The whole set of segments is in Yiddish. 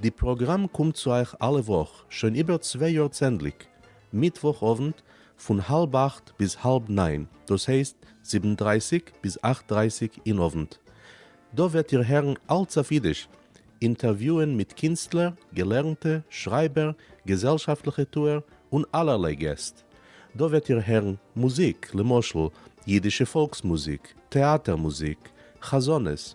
די פראגראם קומט צו אייך אלע וואך שוין איבער צוויי יאר צענדליג מיטוואך אוונט פון האלב אכט ביז האלב ניין דאס הייסט זיבן דרייסיג ביז אכט דרייסיג אין אוונט דא וועט איר הערן אלץ אויף אידיש אינטערוויוען מיט קינסטלער געלערנטע שרייבער געזעלשאפטליכע טוער און אלערליי געסט דא וועט איר הערן מוזיק למשל אידישע פאלקס מוזיק טעאטער מוזיק חזנות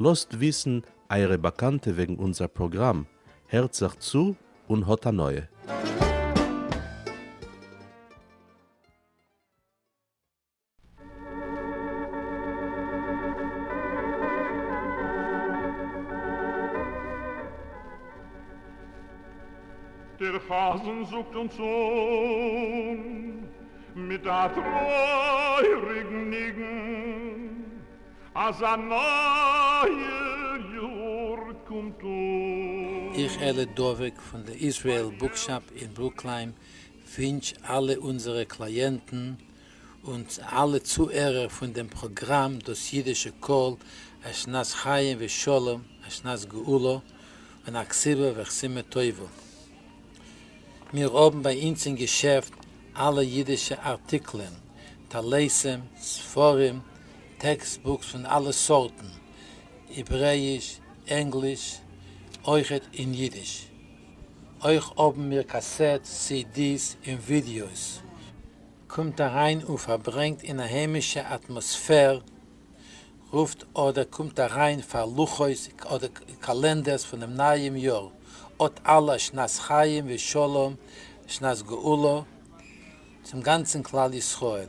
לאזט וויסן אייערע באקאנטע וועגן אונזער פראגראם, הערט זיך צו און האט הנאה! דער חזן זאגט אונז אן מיט א טרויעריגן ניגון. אז א נייער יאר קומט אן. איך אלי דבוק פון די איזרעיל בוקשאפ אין ברוקליין ווינטש אלע אונזערע קלייענטן און אלע צוהערער פון דעם פראגראם דאס אידישע קול א שנת חיים ושלום א שנת גאולה און א כסלו וחסימה טובה. מיר האבן ביי אונז אין געשעפט אלע אידישע ארטיקלען, טלסים, ספרים, טעקסט בוקס פון אלע סארטן, העברעיש, ענגליש, אויכעט אין אידיש. אויך האבן מיר קאסעטס, סי די'ס און ווידיאוס. קומט אריין און פארברענגט אין א היימישע אטמאספער, רופט אדער קומט אריין פאר לוחות אדער קאלענדערס פונעם נייעם יאר, אות אלע שנת חיים ושלום שנת גאולה צום גאנצן כלל ישראל.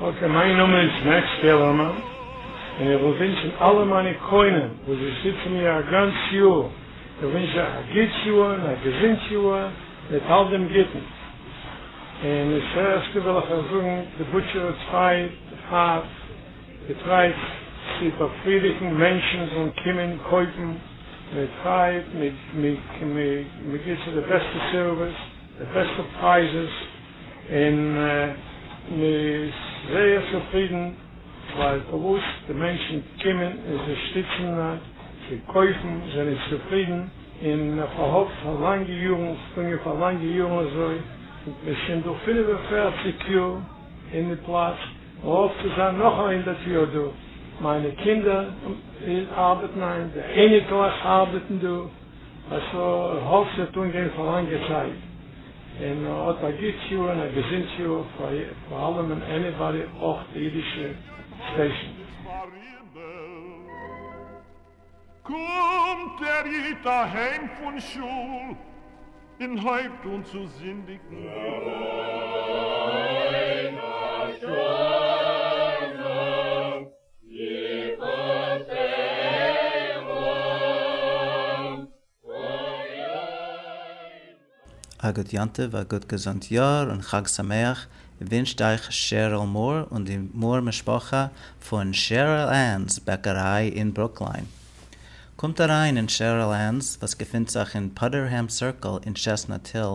אקעי, מיין נאמען איז מעקס קעלערמאן, און איך וויל ווינטשן אלע מיינע קונים וואס זיי שטיצן מיר א גאנץ יאר, איך ווינטש אייך א גוטס יאר און א געזונט יאר מיט אלט דעם גוטן. און עס הערשט וויל איך אייך זאגן, די בוטשער האט צוויי הארץ געטרייט צו באפרידיגן מענטשן זאלן קומען קויפן מיט פרייד, מען גיבט זיי די בעסטע סערוויס, די בעסטע פרייזעס, און מען איז זייער צופרידן ווייל פארוואס די מענטשן קומען און זיי שטיצן זיי קויפן זענען צופרידן און מען פארהאפט פאר לאנגע יארן טוהן מיר פאר לאנגע יארן אזוי מ'איז שוין דא פֿינף און פֿערציק יאר אין די פלאץ מען האפט צו זיין נאך א הונדערט יאר דא מיינע קינדער ארבעטן היינט די אייניקלעך ארבעטן דא אז איך האף ס'וועט אנגיין פאר לאנגע צייט. און האט א גוט יאר און א געזונט יאר פאר פאר אלעמען עניבאדי אויך די אידישע סטעישן. קומט דער איד אהיים פון שול און הויבט אן צו זינדיגן. א גוט יום טוב, א גוט געזונט יאר און חג שמח ווינטשט אייך שעריל מאר און די מאר משפחה פון שעריל ענס בעקעריי אין ברוקליין. קומט אריין אין שעריל ענס וואס געפינט זיך אין פאדערהעם סירקל אין טשעסנאט היל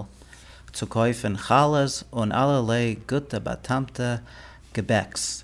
צו קויפן חלות און אלערליי גוטע באטעמטע געבעקס.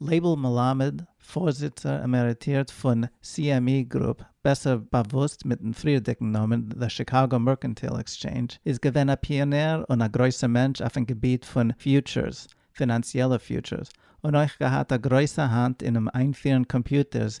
לייבל מלמד, פארזיצער עמעריטירט פון CME Group, בעסער באוואוסט מיטן פריערדיגן נאמען The Chicago Mercantile Exchange, איז געווען א פיאנער און א גרויסער מענטש אויפן געביט פון פיוטשערס, פינאנציעלע פיוטשערס, און אויך געהאט א גרויסע האנט אינעם איינפירן קאמפיוטערס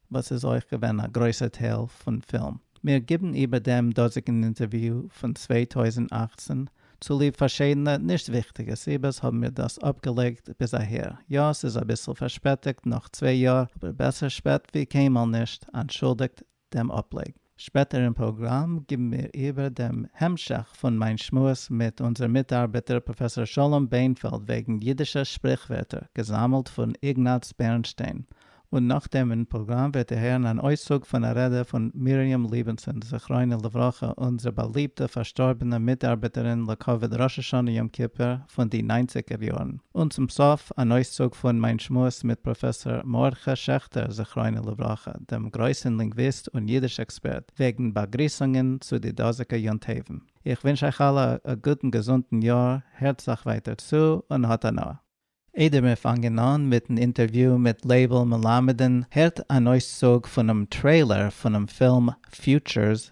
וואס איז אויך געווען א גרויסער טייל פון פילם. מיר גיבן איבער דעם דאזיגן אינטערוויו פון צוויי טויזנט אַכצן, צוליב פארשידענע נישט וויכטיגע סיבות האבן מיר דאס אפגעלייגט ביז אהער. יא, ס'איז אביסל פארשפעטיגט נאך צוויי יאר, אבער בעסער שפעט ווי קיינמאל נישט, אנטשולדיגט דעם אפלייג. שפעטער אין פראגראם גיבן מיר איבער דעם המשך פון מיין שמועס מיט אונזער מיטארבעטער פראפעסאר שלום בענפעלד וועגן אידישע שפריכווערטער, געזאמלט פון איגנאץ בערנשטיין, און נאכדעם אין פראגראם וועט איר הערן אן אויסצוג פון א רעדע פון מרים ליבענסאן זכרונה לברכה אונזער באליבטע פארשטארבענע מיטארבעטערין לכבוד ראש השנה יום כיפור פון די ניינציגער יארן, און צום סוף אן אויסצוג פון מיין שמועס מיט פראפעסאר מרדכי שעכטער זכרונה לברכה. דעם גרויסן לינגוויסט און יידיש עקספערט, וועגן באגריסונגען צו די דאזיגע יום טובן. איך ווינטש אייך אלע א גוטן געזונטן יאר, הערט זיך ווייטער צו און האט הנאה. איידער מיר פאנגען אן מיטן אינטערוויו מיט לייבל מלמד'ן, הערט אן אויסצוג פונעם טרעילער פונעם פילם Futures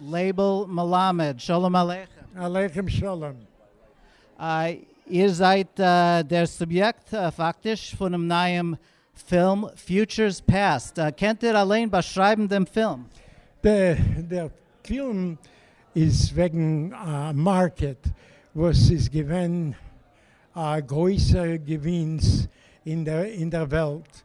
לייבל מלמד, שלום עליכם. עליכם שלום. איר זייט דער סוביעקט פאקטיש פונעם נייעם פילם Futures Past, קענט איר אליין באשרייבן דעם פילם? דער פילם איז וועגן א מארקעט וואס איז געווען א גרויסע געווינס אין דער וועלט.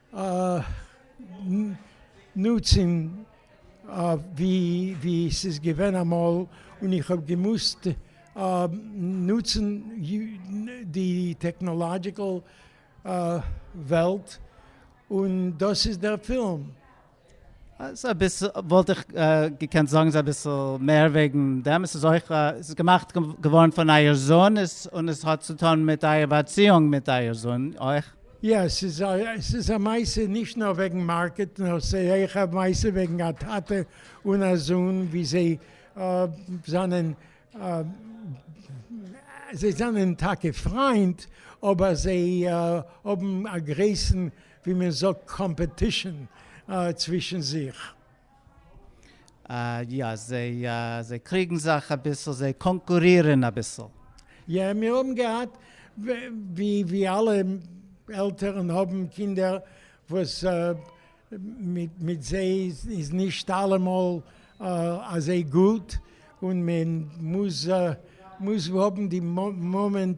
נוצן ווי ס'איז געווען אמאל און איך האב געמוזט נוצן די טעקנאלאדזשיקעל וועלט און דאס איז דער פילם. וואלט איך געקענט זאגן זיי אביסל מער וועגן דעם, עס איז אויך געמאכט געווארן פון אייער זון, און עס האט צו טון מיט אייער באציאונג מיט אייער זון אויך. יא, עס איז א מעשה נישט נאר וועגן מארקעט, נאר עס איז אויך א מעשה וועגן א טאטע און א זון, ווי זיי זענען, זיי זענען טאקע פריינט, אבער זיי האבן א גרויסן ווי מען זאגט קאמפעטישן צווישן זיך. יא, זיי קריגן זיך אביסל, זיי קאנקורירן אביסל. יא, מיר האבן געהאט, ווי אלע עלטערן האבן קינדער וואס מיט זיי איז נישט אלעמאל אזוי גוט, און מען מוז האבן די מאמענט.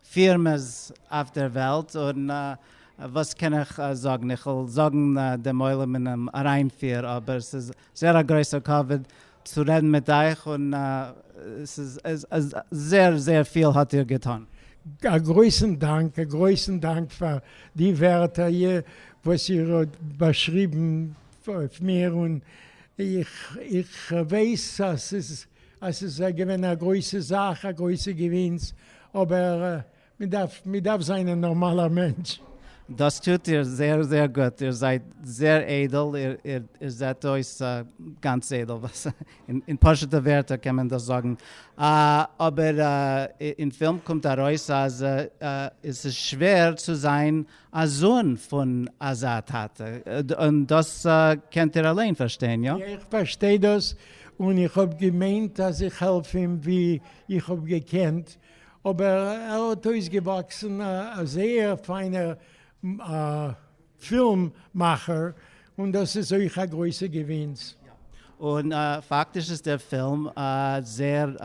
פירמעס אויף דער וועלט, און וואס קען איך זאגן, איך וועל זאגן דעם עולם אינעם אריינפיר, אבער עס איז זייער א גרויסער כבוד צו רעדן מיט אייך, און עס איז זייער זייער פיל האט איר געטאן. א גרויסן דאנק, א גרויסן דאנק פאר די ווערטער וואס איר האט באשריבן אויף מיר, און איך ווייס אז עס איז געווען א גרויסע זאך, א גרויסע געווינס, אבער מ'דארף מ'דארף זיין א נארמאלער מענטש. דאס טוט איר זייער זייער גוט, איר זייט זייער איידל, איר זעט אויס גאנץ איידל, אין פשוט'ע ווערטער קען מען דאס זאגן, אבער אין פילם קומט ארויס אז עס איז שווער צו זיין א זון פון אזא טאטע, און דאס קענט איר אליין פארשטיין, איא? איך פארשטיי דאס, און איך האב געמיינט אז איך העלף אים ווי איך האב געקענט, אבער ער האט אויסגעוואקסן א זייער פיינער פילם מאכער, און דאס איז אויך א גרויסע געווינס. און פאקטיש איז דער פילם זייער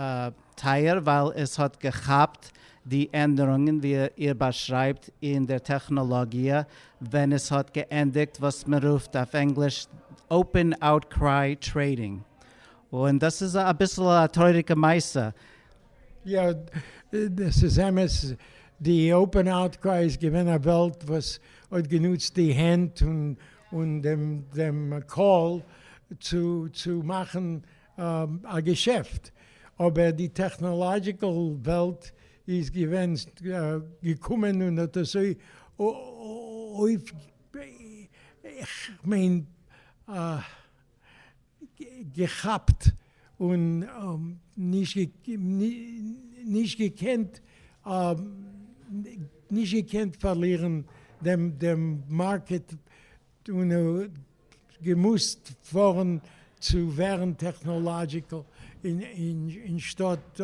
טייער, ווייל עס האט געכאפט די ענדערונגען ווי איר באשרייבט אין דער טעכנאלאגיע, ווען עס האט געענדיגט וואס מען רופט אויף ענגליש Open Outcry Trading, און דאס איז אביסל א טרויעריגע מעשה. יא, דאס איז אמת, די אופען אוטקריי איז געווען א וועלט וואס האט גענוצט די הענט און דעם קול צו מאכן א געשעפט, אבער די טעכנאלאדזשיקעל וועלט איז געווען געקומען און האט אזוי אויף כ'מיין געכאפט און נישט געקענט נישט געקענט פארלירן דעם דעם מארקעט און געמוזט פארן צו ווערן טעכנאלאדזשיקעל אין שטאט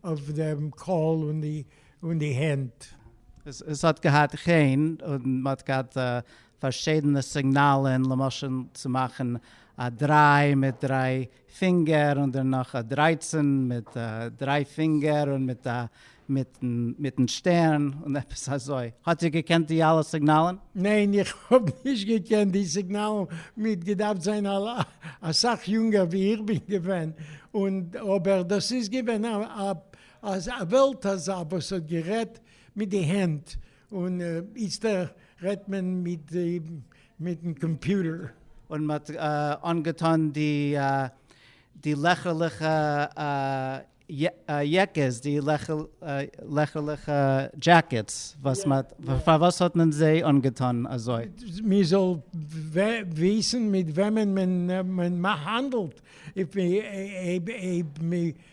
אויף דעם קול און די הענט. עס האט געהאט חן און מען האט געהאט פארשידענע סיגנאלען, למשל צו מאכן א דריי מיט דריי פינגער און דערנאך א דרייצען מיט דריי פינגער און מיט א מיטן שטערן און עפעס אזוי. האט איר געקענט די אלע סיגנאלען? ניין איך האב נישט געקענט די סיגנאלען, מ'האט געדארפט זיין אסאך יונגער ווי איך בין געווען, און אבער דאס איז געווען א וועלט אזא וואס האט גערעדט מיט די הענט און איצטער רעדט מען מיט מיטן קאמפיוטער. און מ'האט אנגעטון די די לעכערליכע יעקעס, די לעכערליכע דזשעקעטס, וואס מ'האט, פארוואס האט מען זיי אנגעטון אזוי? מ'זאל וויסן מיט וועמען מען האנדלט, אויב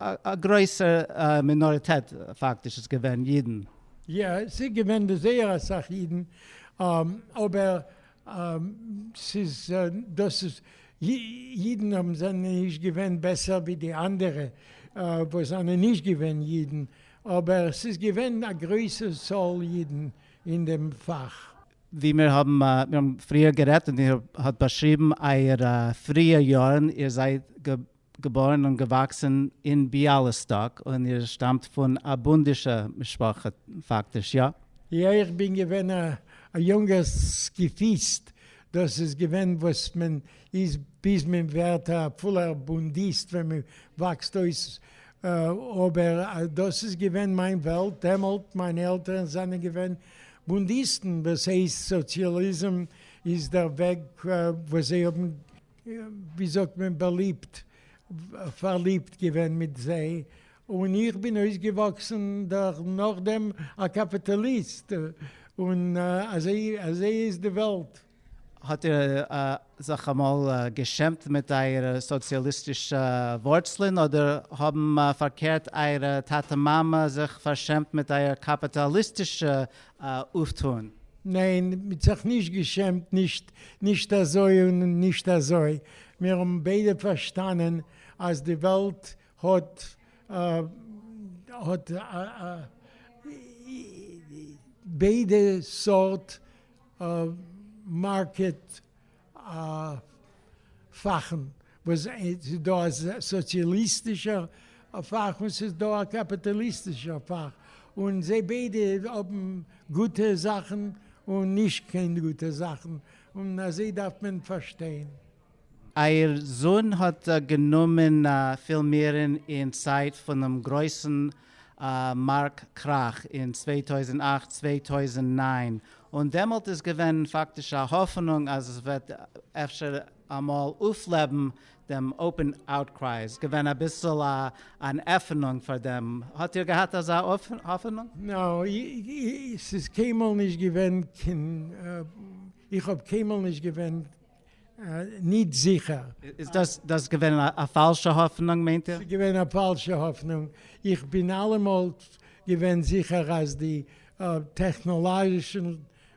א גרויסע מינאריטעט פאקטיש איז געווען אידן. יא, ס'איז געווען זייער אסאך אידן, אבער ס'איז דאס איז אידן האבן זענען נישט געווען בעסער ווי די אנדערע וואס זענען נישט געווען אידן, אבער ס'איז געווען א גרויסע צאל אידן אין דעם פאך. ווי מיר האבן מיר האבן פריער גערעדט און איר האט באשריבן אייערע פריע יארן, איר זייט געבוירן און געוואקסן אין ביאליסטאק, און איר שטאמט פון א בונדישע משפחה פאקטיש, יא? יא, איך בין געווען א יונגער סקיפיסט, דאס איז געווען וואס מען איז ביז מען ווערט א פולער בונדיסט ווען מען וואקסט אויס, אבער דאס איז געווען מיין וועלט דעמאלט, מיינע עלטערן זענען געווען בונדיסטן, דאס הייסט סאציאליזם איז דער וועג וואס זיי האבן. ווי זאגט מען באליבט פארליבט געווען מיט זיי, און איך בין אויסגעוואקסן נאכדעם א קאפיטאליסט, און אזוי איז די וועלט. האט איר זיך אמאל געשעמט מיט אייערע סאציאליסטישע ווארצלען, אדער האבן פארקערט אייערע טאטע מאמע זיך פארשעמט מיט אייער קאפיטאליסטישע אויפטוהן? ניין, מ'האט זיך נישט געשעמט, נישט נישט אזוי און נישט אזוי, מיר האבן ביידע פארשטאנען אז די וועלט האט האט ביידע סארט מארקעט פאכן, וואס ס'איז דא א סאציאליסטישער פאך און ס'איז דא א קאפיטאליסטישער פאך, און זיי ביידע האבן גוטע זאכן און נישט קיין גוטע זאכן, און אזוי דארף מען פארשטיין. אייער זון האט גענומען פילמירן אין צייט פונעם גרויסן מארק קראך אין צוויי טויזנט אַכט צוויי טויזנט נײַן, און דעמאלט איז געווען פאקטיש א האפענונג אז עס וועט אפשר אמאל אויפלעבן דעם אופן אוטקריי איז געווען אביסל אן עפענונג פאר דעם, האט איר געהאט אזא האפענונג? נאו, ס'איז קיינמאל נישט געווען קיין, איך האב קיינמאל נישט געווען ניט זיכער. איז דאס געווען א פאלשע האפענונג מיינט איר? ס'איז געווען א פאלשע האפענונג, איך בין אלעמאל געווען זיכער אז די טעכנאלאגישע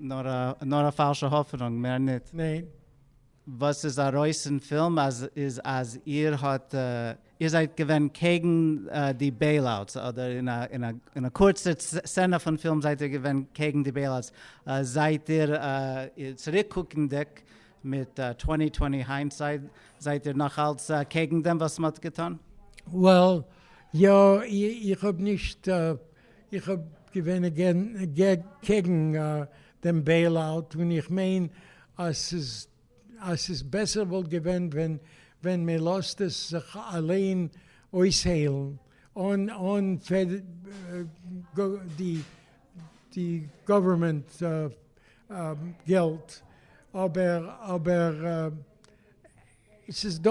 נאר א פאלשע האפענונג מער ניט. ניין. וואס איז ארויס אין פילם איז אז איר האט איר זייט געווען קעגן די בעיל אוטס אדער אין א קורצע סצענע פון פילם זייט איר געווען קעגן די בעיל אוטס זייט איר צוריק קוקענדיג מיט טווענטי טווענטי היינדסייד זייט איר נאך אלץ קעגן דעם וואס מען האט געטון? וועל יא איך האב נישט. איך האב געווען קעגן דעם בעיל אוט און איך מיין אז ס'איז בעסער וואלט געווען ווען מען לאזט עס זיך אליין אויסהיילן אן די גאווערמענט געלט אבער עס איז דא,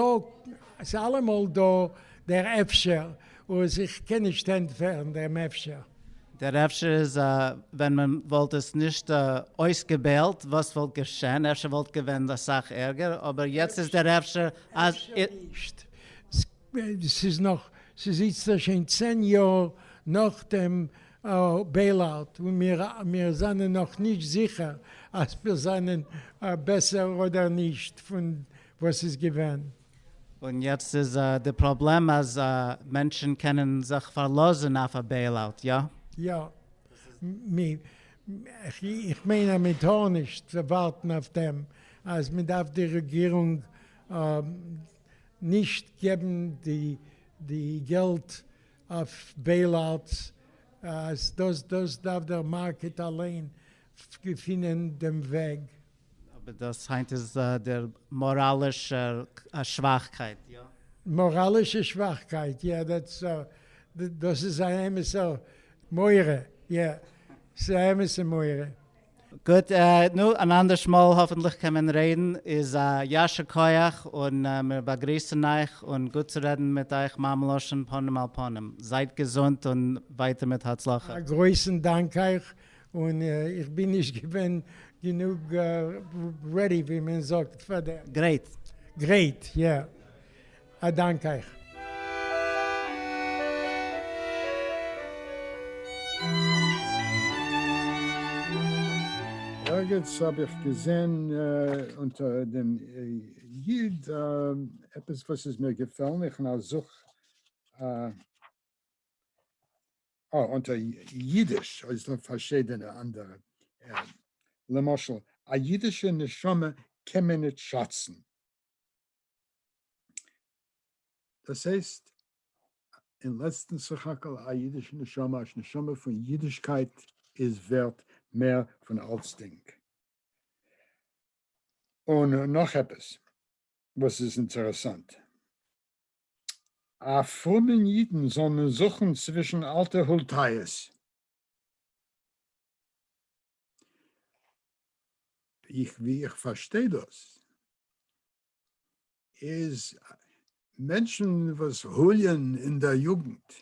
עס איז אלעמאל דא דער אפשר, וואס איך קען נישט ענטפערן דעם אפשר. דער אפשר איז א, ווען מען וואלט עס נישט אויסגעוועלט וואס וואלט געשען, אפשר וואלט געווען אסאך ערגער, אבער יעצט איז דער אפשר אז. אפשר נישט, עס איז נאך, עס איז איצטער שוין צען יאר נאכדעם בעילאוט, און מיר זענען נאך נישט זיכער אז מיר זענען בעסער אדער נישט פון וואס איז געווען. און יעצט איז די פראבלעם אז מענטשן קענען זיך פארלאזן אויף א בעילאוט, יא? יא. איך מיין אז מען טאר נישט ווארטן אויף דעם, אז מען דארף די רעגירונג נישט געבן די געלט אויף בעילאוטס אז דאס דאס דארף דער מארקעט אליין געפינען דעם וועג. אבער דאס היינט איז דער מאראלישע שוואכקייט, יא? מאראלישע שוואכקייט, יא, דעטס דאס איז א אמת'ער מורא, יא, ס'איז א אמת'ע מורא. גוט, נו, אן אנדערש מאל האפענטליך קען מען רעדן, איז א יישר כח און מיר באגריסן אייך, און גוט צו רעדן מיט אייך מים לשון פנים אל פנים, זייט געזונט און ווייטער מיט הצלחה. א גרויסן דאנק אייך, און איך בין נישט געווען גענוג רעדי ווי מען זאגט פאר דעם. גרייט. גרייט, יא. א דאנק אייך. ערגעץ האב איך געזען אונטער דעם איד עפעס וואס איז מיר געפעלן, איך נאר זוך, אה, אונטער אידיש איז דא פארשידענע אנדערע, למשל, א אידישע נשמה קען מען נישט שאצן. דאס הייסט אין לעצטן סך הכל א אידישע נשמה, א נשמה פון אידישקייט איז ווערט מער פון אלצדינג. און נאך עפעס וואס איז אינטערעסאנט, א פרומען אידן זאל מען זוכן צווישן אלטע הולטייעס, איך ווי איך פארשטיי דאס איז מענטשן וואס הוליען אין דער יוגנט,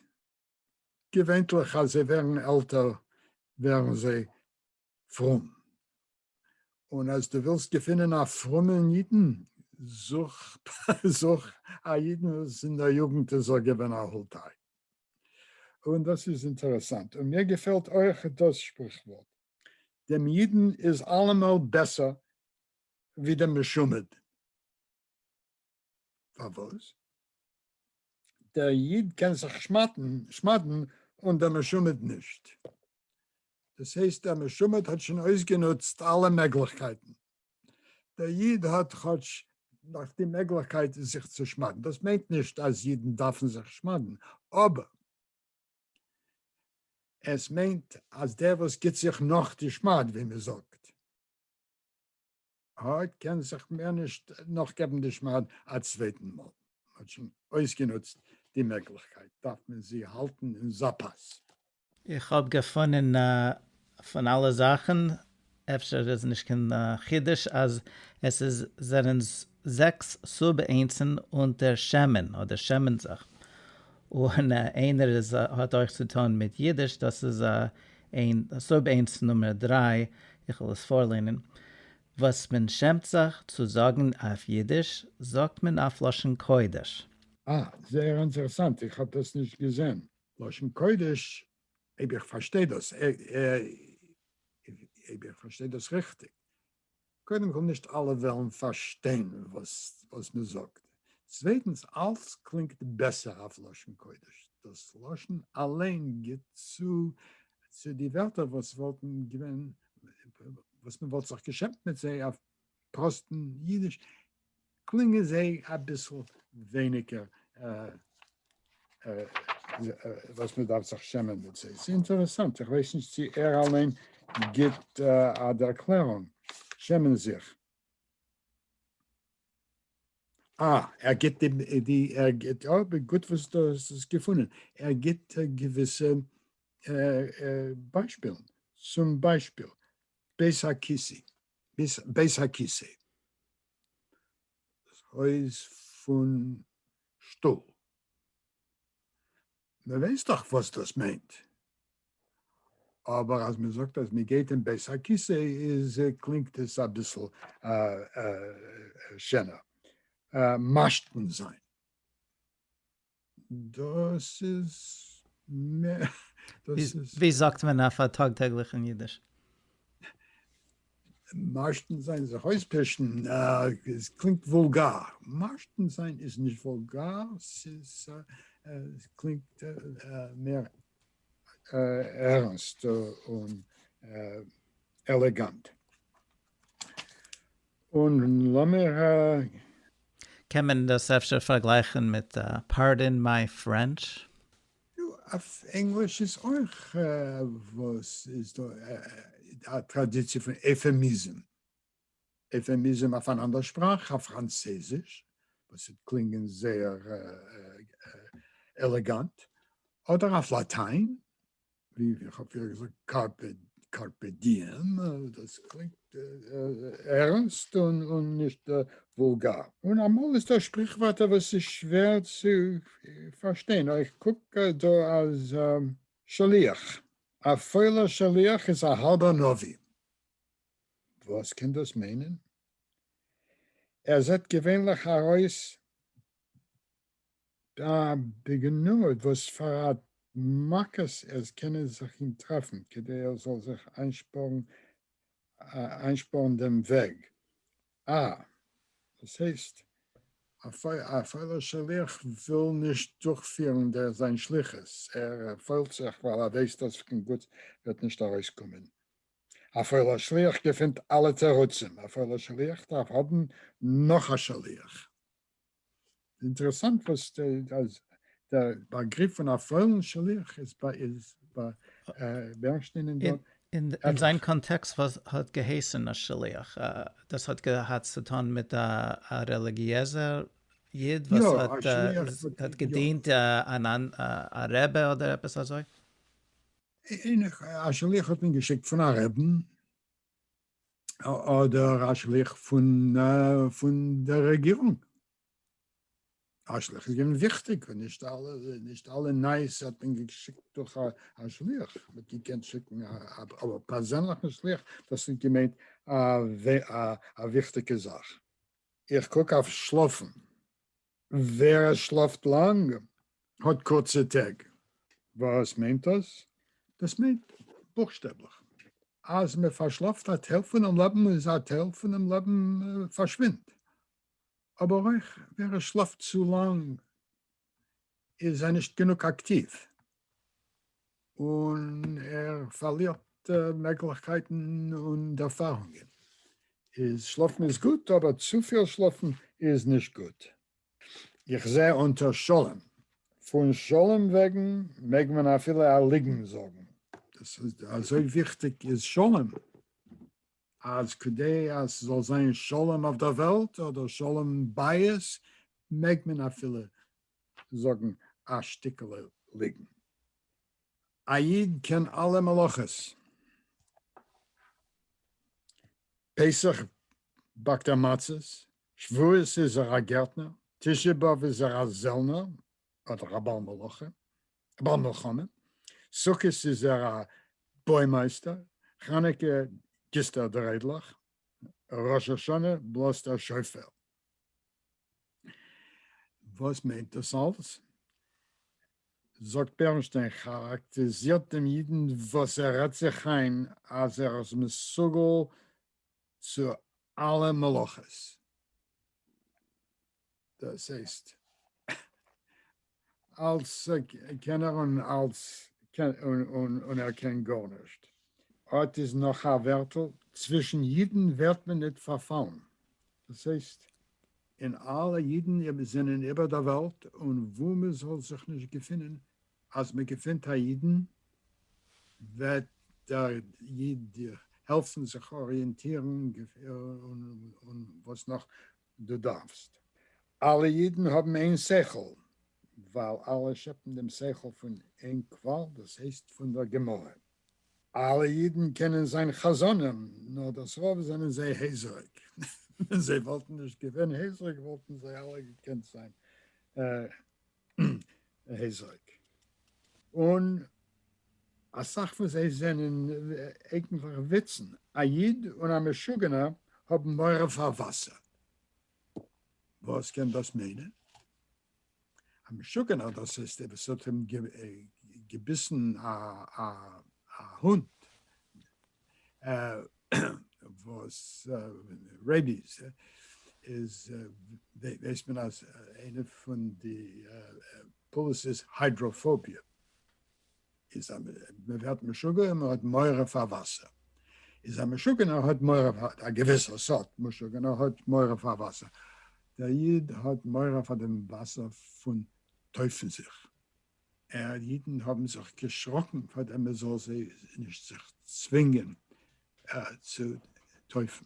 געווענטליך אז זיי ווערן עלטער ווערן זיי פרום, און אז דו ווילסט געפינען א פרומען אידן זוך א אידן וואס אין דער יוגנט איז ער געווען א הולטיי, און דאס איז אינטערעסאנט, און מיר געפעלט אויך דאס שפריכווארט. דעם אידן איז אלעמאל בעסער ווי דעם משומד. פארוואס? דער איד קען זיך שמד'ן און דער משומד נישט. דאס הייסט דער משומד האט שוין אויסגענוצט אלע מעגליכקייטן. דער איד האט כאטש נאך די מעגליכקייט זיך צו שמד'ן, דאס מיינט נישט אז אידן דארפן זיך שמד'ן, אבער עס מיינט אז דער וואס גיבט זיך נאך די שמד, ווי מען זאגט, האט קען זיך מער נישט נאכגעבן די שמד א צווייטן מאל, מען האט שוין אויסגענוצט די מעגליכקייט, דארף מען זי האלטן אין זאפאס. איך האב געפונען פון אלע זאכן, אפשר איז נישט קיין חידוש, אז עס איז זענען זעקס סוב אינצן אונטער שמן אדער שמן זך, און איינער איז האט אויך צו טון מיט אידיש, דאס איז אין סוב אינץ נומער דריי, איך וועל עס פארלערנען, וואס מען שעמט זיך צו זאגן אויף אידיש, זאגט מען אויף לשון קודש. אה, זייער אינטערעסאנט, איך האב דאס נישט געזען. לשון קודש, אויב איך פארשטיי דאס, אויב איך פארשטיי דאס ריכטיג, קודם כל נישט אלע וועלן פארשטיין וואס מען זאגט, צווייטנס אלס קלינגט בעסער אויף לשון קודש, דאס לשון אליין גיבט צו צו די ווערטער וואס וואלטן געווען, וואס מען וואלט זיך געשעמט מיט זיי אויף פראסטן אידיש קלינגען זיי אביסל ווייניגער וואס מען דארף זיך שעמען מיט זיי. ס'איז אינטערעסאנט, איך ווייס נישט צו ער אליין גיבט א ערקלערונג, שעמען זיך. אה, ער גיבט די, ער גיבט, אוי גוט וואס דו האסט עס געפונען, ער גיבט געוויסע ביישפילן, צום ביישפיל בית הכיסי, ביז בית הכיסא, דאס הויז פון שטאל, מען ווייסט דאך וואס דאס מיינט, אבער אז מען זאגט אז מען גייט אין בית הכיסא איז קלינגט עס אביסל שענער, משתין זיין. דאס איז מער, דאס איז. ווי זאגט מען אויף א טאג טעגליכן אידיש? משתין זיין, זיך אויספישן, עס קלינגט וואולגאר. משתין זיין איז נישט וואולגאר, ס'איז, עס קלינגט מער ערנסט און עלעגאנט. און לאמיר ה. קען מען דאס אפשר פארגלייכן מיט פארדין מיי פרענטש? נו, אויף ענגליש איז אויך וואס איז דא א טראדיציע פון עפעמיזם, עפעמיזם אויף אן אנדער שפראך, אויף פראנצעזיש, וואס וועט קלינגען זייער עלעגאנט, אדער אויף לאטיין, ווי איך האב פריער געזאגט קארפע קארפע דיעם, דאס קלינגט ערנסט און נישט וואולגאר. און אמאל איז דא שפריכווארטער וואס איז שווער צו פארשטיין, איך קוק דא אז שליח, א פוילער שליח איז א האלבער נביא, וואס קען דאס מיינען? ער זעט געווענליך ארויס ד די גענוי וואס פאר א מכות עס קען זיך אים טרעפן כדי ער זאל זיך איינשפארן דעם וועג. א דאס הייסט. א פוילער שליח וויל נישט דורכפירן זיין שליחות, ער פוילט זיך ווייל ער ווייסט דאס קיין גוטס וועט נישט ארויסקומען. א פוילער שליח געפינט אלע תירוצים, א פוילער שליח דארף האבן נאך א שליח. אינטערעסאנט וואס אז דער באגריף פון א פולן שליח איז ביי בערנשטיין און דאן. אין זיין קאנטעקסט וואס האט געהייסן א שליח? דאס האט געהאט צו טון מיט א רעליגיעזער איד וואס האט געדינט א רבי אדער עפעס אזוי? א שליח האט מען געשיקט פון א רעבן. אדער א שליח פון דער רעגירונג. א שליח איז געווען וויכטיג און נישט אלע נייעס האט מען געשיקט דורך א שליח, מען האט געקענט שיקן א פערזענליכן שליח, דאס האט געמיינט א וויכטיגע זאך. איך קוק אויף שלאפן. ווער עס שלאפט לאנג האט קורצע טעג. וואס מיינט דאס? דאס מיינט בוכשטעבליך אז מען פארשלאפט א טייל פונעם לעבן און א טייל פונעם לעבן פארשווינדט, אבער אויך ווער עס שלאפט צו לאנג איז זיי נישט גענוג אקטיוו און ער פארלירט מעגליכקייטן און ערפארונגען. איז שלאפן איז גוט אבער צופיל שלאפן איז נישט גוט. איך זעה אונטער שלום. פון שלום וועגן מעג מען אפילו א ליגן זאגן. אזוי וויכטיג איז שלום? אז כדי אז ס'זאל זיין שלום אויף דער וועלט אדער שלום בית מעג מען אפילו זאגן א שטיקעלע ליגן. א איד קען אלע מלאכות. פסח באקט ער מצות, שבועות איז ער א גערטנער, תשעה באב איז ער א זעלנער אדער א בעל מלאכה, א בעל מלחמה, סוכות איז ער א בוימייסטער, חנוכה גיסט ער דריידלעך, ראש השנה בלאזט ער שופר. וואס מיינט דאס אלס? זאגט בערנשטיין כאראקטעזירט דעם אידן וואס ער רעדט זיך איין אז ער איז מסוגל צו אלע מלאכות. דאס הייסט אלס קענער און אלס און ער קען גארנישט. אט איז נאך א ווערטל, צווישן אידן ווערט מען ניט פארפאלן, דאס הייסט, און אלע אידן זענען איבער דער וועלט, און וואו מען זאל זיך נישט געפינען, אז מען געפינט א אידן, וועט דער איד העלפן זיך אריענטירן, און וואס נאך, דו דארפסט. אלע אידן האבן איין שכל, ווייל אלע שעפן דעם שכל פון איין קוואל, דאס הייסט פון דער גמרא. אלע אידן קענען זיין חזנים, נאר דאס רוב זענען זיי הייזעריג. ווען זיי וואלטן נישט געווען הייזעריג וואלטן זיי אלע געקענט זיין. היזק. און אסאך פון זיי זענען אייגנטליך וויצן. א איד און א משוגענער האבן מורא פאר וואסער. וואס קען דאס מיינען? א משוגענער, דאס הייסט עס האט אים געביסן א הונט. וואס רעביס איז ווייסט מען אז איינע פון די פאליסיס היידראפאביע איז אז מען ווערט משוגע און מען האט מורא פאר וואסער איז א משוגענער האט מורא פאר א געוויסע סארט משוגענער האט מורא פאר וואסער דער איד האט מורא פאר דעם וואסער פון טויפן זיך. אה, אידן האבן זיך געשראקן פאר דעם מען זאל זיי נישט זיך צווינגען צו טויפן.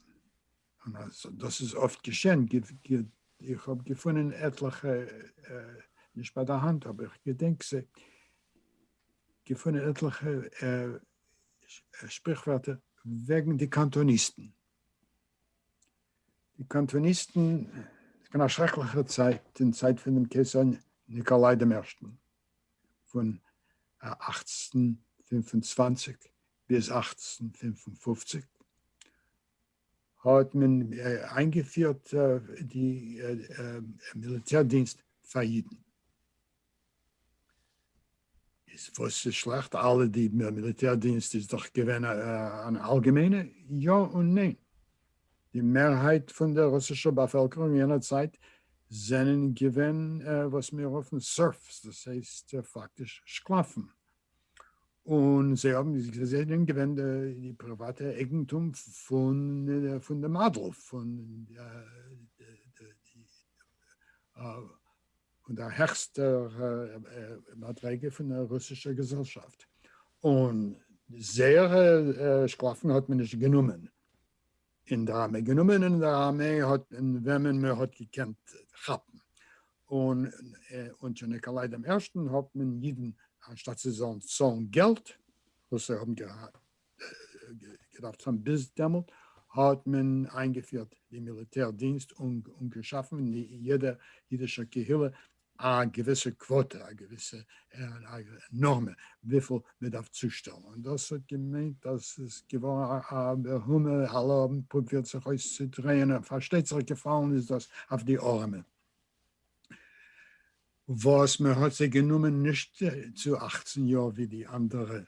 דאס איז אפט געשען, איך האב געפונען עטליכע, נישט ביי די האנט אבער איך געדענק זיי, געפונען עטליכע שפריכווערטער וועגן די קאנטאניסטן. די קאנטאניסטן, עס געווען א שרעקליכע צייט אין צייט פון דעם קיסר ניקאליי דעם ערשטן, פון אַכצן פֿינף און צוואַנציק ביז אַכצן פֿינף און פֿופֿציק, האט מען איינגעפירט די מיליטער דינסט פאר אידן. איז וואס איז שלעכט? אלע די מיליטער דינסט איז דאך געווען אן אלגעמיינע? יא און ניין. די מערהייט פון דער רוסישער באפעלקערונג יענער צייט זענען געווען וואס מיר רופן סערפס, דאס הייסט פאקטיש שקלאפן, און זיי האבן, זיי זענען געווען די פריוואטע אייגנטום פון דעם אדל, פון די פון דער העכסטער מדרגה פון דער רוסישער געזעלשאפט, און זייערע שקלאפן האט מען נישט גענומען אין דער ארמעי, גענומען אין דער ארמעי האט מען וועמען מען האט געקענט כאפן, און אונטער ניקאליי דעם ערשטן האט מען אידן, אנשטאט זיי זאלן צאלן געלט, וואס זיי האבן געהאט געדארפט זיין ביז דעמאלט האט מען איינגעפירט די מיליטער דינסט און געשאפן אין יעדע אידישע קהילה א געוויסע קוואטע א געוויסע נארמע וויפיל מען דארף צושטעלן און דאס האט געמיינט אז עס איז געווארן א מהומה האלע האבן פרובירט זיך אויסצודרייען און פארשטייט זיך געפאלן איז דאס אויף די ארעמע וואס מען האט זיי גענומען נישט צו אַכצן יאר ווי די אנדערע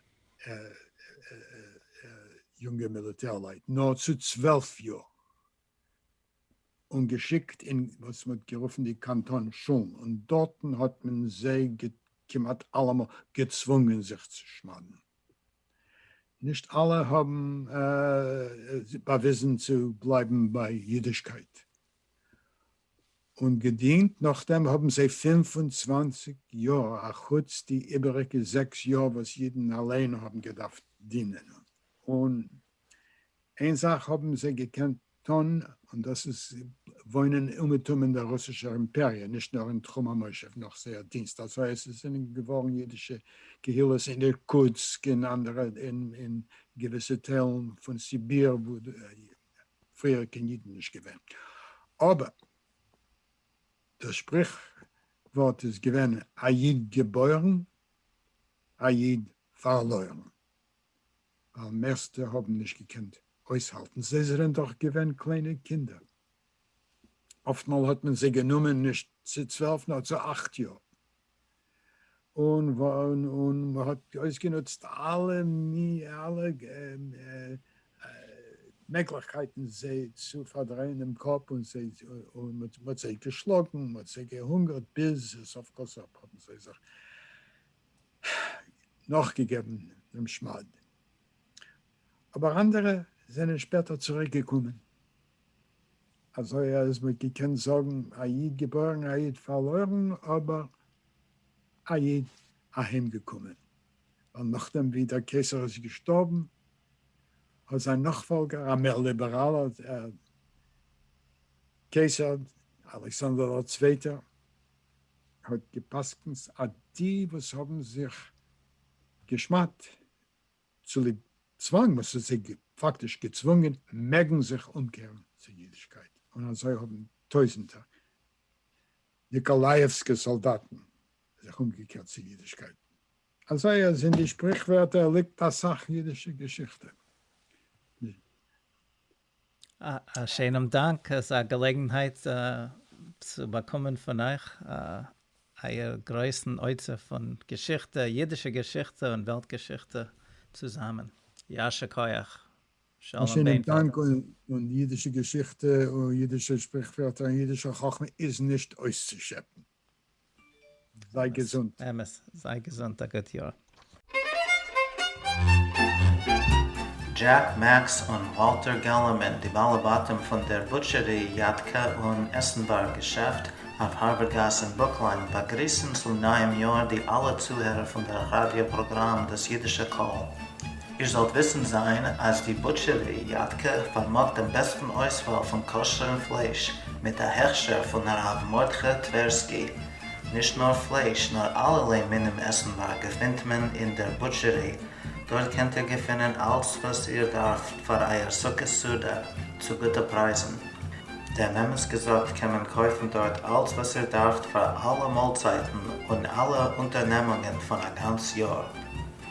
יונגע מיליטערלייט נאר צו צוועלף יאר, און געשיקט אין וואס מען האט גערופן די קאנטאן שולן, און דארטן האט מען זיי כמעט אלעמאל געצוואונגען זיך צו שמד'ן. נישט אלע האבן באוויזן צו בלייבן ביי אידישקייט, און געדינט נאכדעם האבן זיי פֿינף און צוואַנציק יאר אחוץ די איבעריגע זעקס יאר וואס אידן אליין האבן געדארפט דינען און איין זאך האבן זיי געקענט טון און דאס איז וואוינען אומעטום אין דער רוסישער אימפעריע נישט נאר אין תחום המושב נאך זייער דינסט אזוי אז עס זענען געווארן אידישע קהילות אין אירקוטסק אין אנדערע אין געוויסע טיילן פון סיביר וואו פריער קיין אידן נישט געווען, אבער דאס שפריך ווארט איז געווען א איד געבוירן א איד פארלוירן, ווייל מערסטע האבן נישט געקענט אויסהאלטן, זיי זענען דאך געווען קליינע קינדער, אפטמאל האט מען זיי גענומען נישט צו צוועלף נאר צו אכט יאר. און און מ'האט אויסגענוצט אלע אלע מעגליכקייטן זיי צו פארדרייען דעם קאפ, און זיי און מ'האט זיי געשלאגן, מ'האט זיי געהונגערט, ביז סוף כל סוף האבן זיי זיך נאכגעגעבן דעם שמד. אבער אנדערע זענען שפעטער צוריק געקומען. אזוי אז מען האט געקענט זאגן א איד געבוירן א איד פארלוירן אבער א איד אהיים געקומען, ווייל נאכדעם ווי דער קיסר איז געשטארבן האט זיין נאכפאלגער א מער ליבעראלער קיסר אלכסנדר דער צווייטער האט גע'פסק'נט אז די וואס האבן זיך גע'שמד'ט צוליב צוואנג וואס האט זיי פאקטיש געצוואונגען מעגן זיך אומקערן צו אידישקייט, און אזוי האבן טויזנטער ניקאלייעווסקע סאלדאטן זיך אומגעקערט צו אידישקייט. אזוי אז אין די שפריכווערטער ליגט אסאך אידישע געשיכטע. א שיינעם דאנק אזא געלעגנהייט צו באקומען פון אייך אייער גרויסן אוצר פון געשיכטע, אידישע געשיכטע און וועלט געשיכטע צוזאמען. יישר כח. א שלום שיינעם בינטל. דאנק און אידישע געשיכטע און אידישע שפריכווערטער און אידישע חכמה איז נישט אויסצושעפן. זיי געזונט. אמת, זיי געזונט, א גוט יאר. דזשעק מעקס און וואלטער געללערמען, די בעלי בתים פון דער בוטשערי, יאטקע און עסנווארג געשעפט אויף הארווערד גאס אין ברוקלין, באגריסן צום נייעם יאר די אלע צוהערער פון דער ראדיא פראגראם דאס אידישע קול. איר זאלט וויסן זיין אז די בוטשערי יד ק פארמאגט דעם בעסטן אויסוואל פון כשר'ן פלייש, מיט א הכשר פון הרב מרדכי טווערסקי. נישט נאר פלייש, נאר אלערליי מינים עסנווארג געפינט מען אין דער בוטשערי, דארט קענט איר געפינען אלץ וואס איר דארפט פאר אייער סוכות סעודה, צו גוטע פרייזן. דעם אמת געזאגט קען מען קויפן דארט אלץ וואס איר דארפט פאר אלע מאלצייטן און אלע אונטערנעמונגען פון א גאנץ יאר.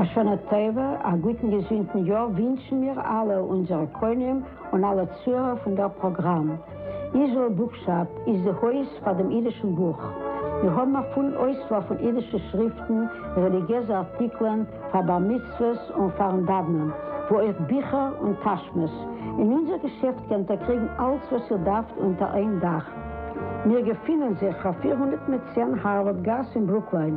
א שנה טובה, א גוטן געזונטן יאר ווינטשן מיר אלע, אונזערע קונים און אלע צוהערער פון דער פראגראם. איזראעל בוקשאפ איז די הויז פאר דעם אידישן בוך. מיר האבן א פולן אויסוואל פון אידישע שריפטן, רעליגיעזע ארטיקלען פאר בר מצוות און פאר'ן דאוונען, ווי אויך ביכער און טאשמעס. אין אונזער געשעפט קענט איר קריגן אלץ וואס איר דארפט אונטער איין דאך. מיר געפינען זיך אויף פֿיר הונדערט צען הארווארד גאס אין ברוקלין.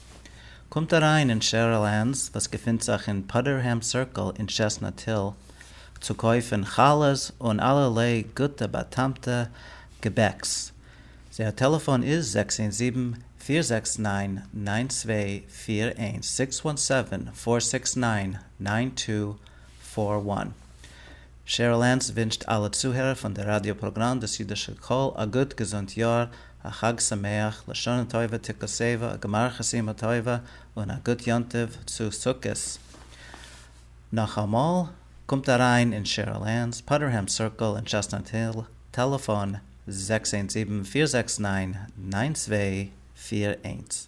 קומט אריין אין שערל ענס וואס געפינט זיך אין פאדערהעם סירקל אין טשעסנאט היל צו קויפן חלות און אלערליי גוטע באטעמטע געבעקס, זייער טעלעפאן איז זעקס איין זיבן פיר זעקס ניין ניין צוויי פיר איינס, סיקס וואן סעווען פאר סיקס ניין ניין טו פאר וואן. שעריל ענס ווינטשט אלע צוהערער פון די ראדיא פראגראם דאס אידישע קול א גוט געזונט יאר, א חג שמח, לשנה טובה תקוסיבה, א גמר חסימה טובה, און א גוט יום טוב צו סוכות. נאכאמאל, קומט אריין אין שעריל ענס פאדערהעם סירקל אין טשעסטנאט היל, טעלעפאן, זעקס איינס זיבן פיר זעקס ניין ניין צוויי פיר איינס.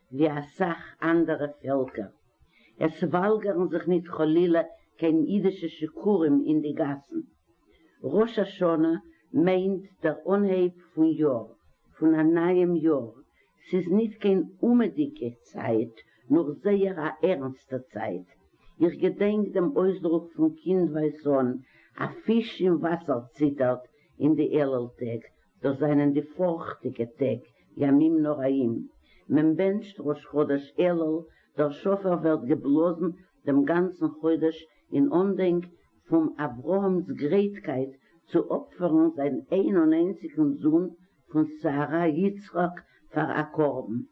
ווי א סך אנדערע פעלקער. עס וואלגערן זיך ניט חלילה קיין אידישע שיכורים אין די גאסן. ראש השנה מיינט דער אנהייב פון יאר, פון א נייעם יאר. ס'איז ניט קיין אומעדיגע צייט, נאר זייער א ערנסטע צייט. איך געדענק דעם אויסדרוק פון קינדווייז אן, א פיש אין וואסער ציטערט אין די עלל טעג, דאס זענען די פארכטיגע טעג, ימים נוראים, מען בענטשט ראש חודש אלול, דער שופר ווערט געבלאזן דעם גאנצן חודש אין אנדענק פון אברהם'ס גרייטקייט צו אפפערן זיין איין און איינציגן זון פון שרה, יצחק, פאר א קרבן.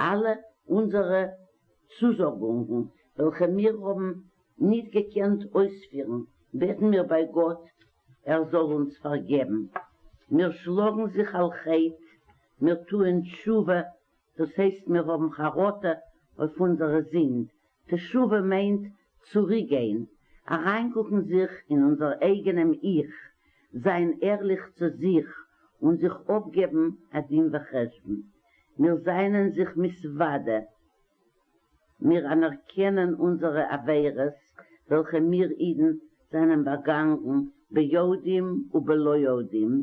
אלע אונזערע צוזאגונגן וועלכע מיר האבן ניט געקענט אויספירן, בעטן מיר ביי גאט ער זאל אונז פארגעבן. מיר שלאגן זיך על חטא, מיר טוען תשובה, דאס הייסט מיר האבן חרטה אויף אונזערע זינד, תשובה מיינט צוריקגיין, אריינקוקן זיך אין אונזער אייגענעם 'איך', זיין ערליך צו זיך און זיך אפגעבן א דין וחשבון. מיר זענען זיך מסוודע, מיר אנערקענען אונזערע עבירות וועלכע מיר אידן זענען באגאנגן ביודעים ובלא יודעים,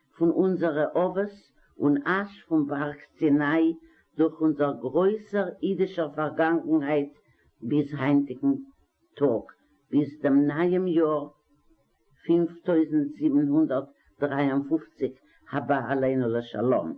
פון אונזערע אבות און אש פון בארג סיני דורך אונזער גרויסער אידישער פארגאנגנהייט ביז היינטיגן טאג, ביז דעם נייעם יאר פֿינף טויזנט זיבן הונדערט דרײַ און פֿופֿציק הבא עלינו לשלום.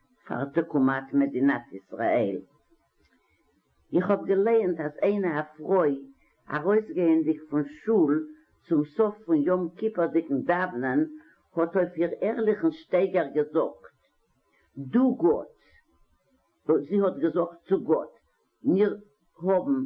פאר תקומת מדינת ישראל. איך האב געלייענט אז איינע א פרוי ארויסגייענדיג פון שול צום סוף פון יום כיפור'דיגן דאוונען האט אויף איר ערליכן שטייגער געזאגט דו גאט זי האט געזאגט צו גאט מיר האבן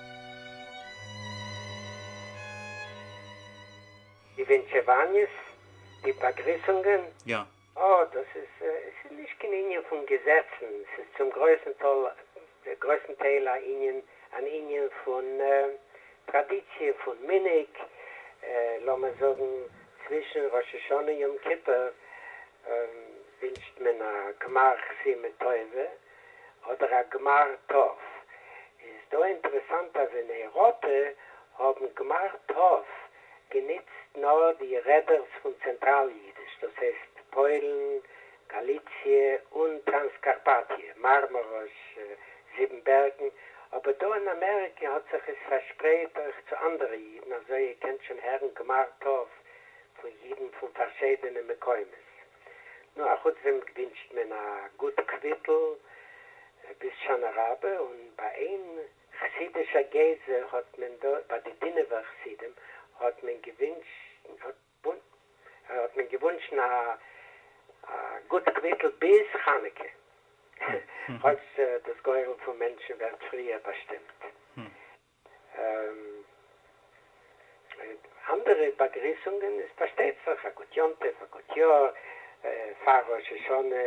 די ווענטשעוואניעס? די באגריסונגען? יא. אה, דאס איז, עס איז נישט קיין ענין פון געזעצן, עס איז צום גרויסן טאל, גרויסן טייל א ענין, אן ענין פון טראדיציע, פון מנהג, לאמיר זאגן צווישן ראש השנה יום כיפור ווינטשט מען א גמר חסימה טובה, אדער א גמר טוב. איז דא אינטערעסאנט אז אין אייראפע האבן גמר טוב גענוצט נאר די רעדערס פון צענטראל אידיש, דאס הייסט פוילן, גאליציע, און טראנסקארפאטיע, מארמאראש, זיבן בערגן, אבער דא אין אמעריקע האט זיך עס פארשפרייט אויך צו אנדערע אידן, אזוי איר קענט שוין הערן גמר טוב פון אידן פון פארשידענע מקומות. נו, א חוץ דעם ווינטשט מען א גוט קוויטל ביז שנה רבה, און ביי איין חסידישע גזע האט מען דא, ביי די דינוב'ער חסידים, האט מען געוואונטשן א גוט קוויטל ביז חנוכה, כאטש דאס גורל פון מענטשן ווערט פריער באשטימט. אנדערע באגריסונגען איז פארשטייט זיך א גוט יום טוב, א גוט יאר, פאר ראש השנה,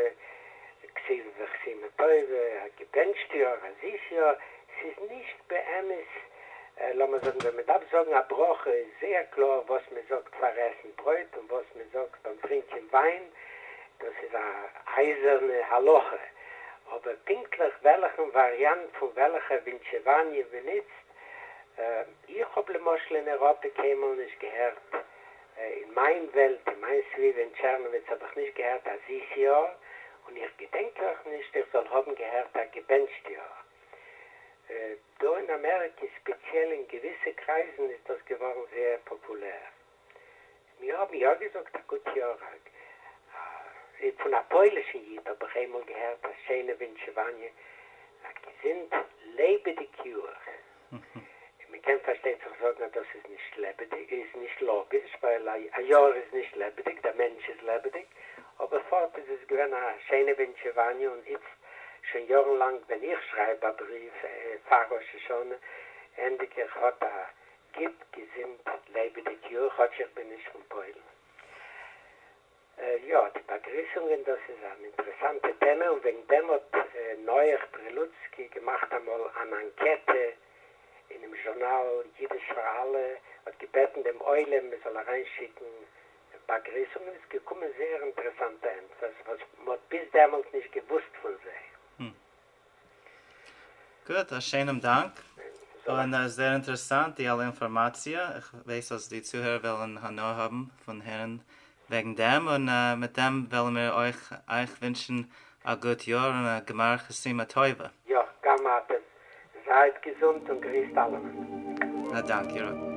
כסילת וכסימה טובה, א געבענטשט יאר, א זיס יאר, ס'איז נישט באמת, לאמער זאגן ווען מען דארף זאגן א ברכה איז זייער קלאר וואס מען זאגט פאר עסן ברויט און וואס מען זאגט ביים טרינקען וויין, דאס איז א אייזערנע הלכה, אבער פונקטליך וועלכן וואריאנט פון וועלכע ווינטשעוואניע מ'נוצט, איך האב למשל אין אירופה קיינמאל נישט געהערט, אין מיין וועלט, אין מיין סביבה אין טשערנאוויץ האב איך נישט געהערט א זיס יאר, און איך געדענק אויך נישט איך זאל האבן געהערט א געבענטשט יאר. דא אין אמעריקע, ספעציעל אין געוויסע קרייזן, איז דאס געווארן זייער פאפולער. מיר האבן יא געזאגט א גוט יאר הרג א. פון א פוילישן איד האב איך איינמאל געהערט א שיינע ווינטשעוואניע א געזונט לעבעדיג יאר. מען קען פארשטיין זיך זאגן אז דאס איז נישט לעבעדיג איז נישט לאגיש ווייל א יאר איז נישט לעבעדיג דער מענטש איז לעבעדיג אבער פארט איז עס געווען א שיינע ווינטשעוואניע און איצט שוין יארן לאנג ווען איך שרייב א בריוו פאר ראש השנה ענדיג איך האט א גיט געזינט לעבעדיג יאר כאטש איך בין נישט פון פוילן. יא די באגריסונגען דאס איז אן אינטערעסאנטע טעמע און וועגן דעם האט נח פרילוצקי געמאכט אמאל אן אנקעטע אינעם זשורנאל אידיש פאר אלע האט געבעטן דעם עולם מען זאל אריין שיקן באגריסונגען און עס איז געקומען זייער אינטערעסאנטע ענטפערס וואס מען האט ביז דעמאלט נישט געוואוסט פון זיי. גוט, א שענעם דאנק, און עס זעהר אינטערעסאנט די אלע אינפארמאציע, איך ווייס אז די צוהערער וועלען הנאה האבען פון הערען וועגען דעם, און מיט דעם וועלען מיר אויך אייך ווינטשען א גוט יאר און א גמר חסימה טובה. יא, גם אתם. זייט געזונט און גריסט אלעמען. א דאנק איר האט.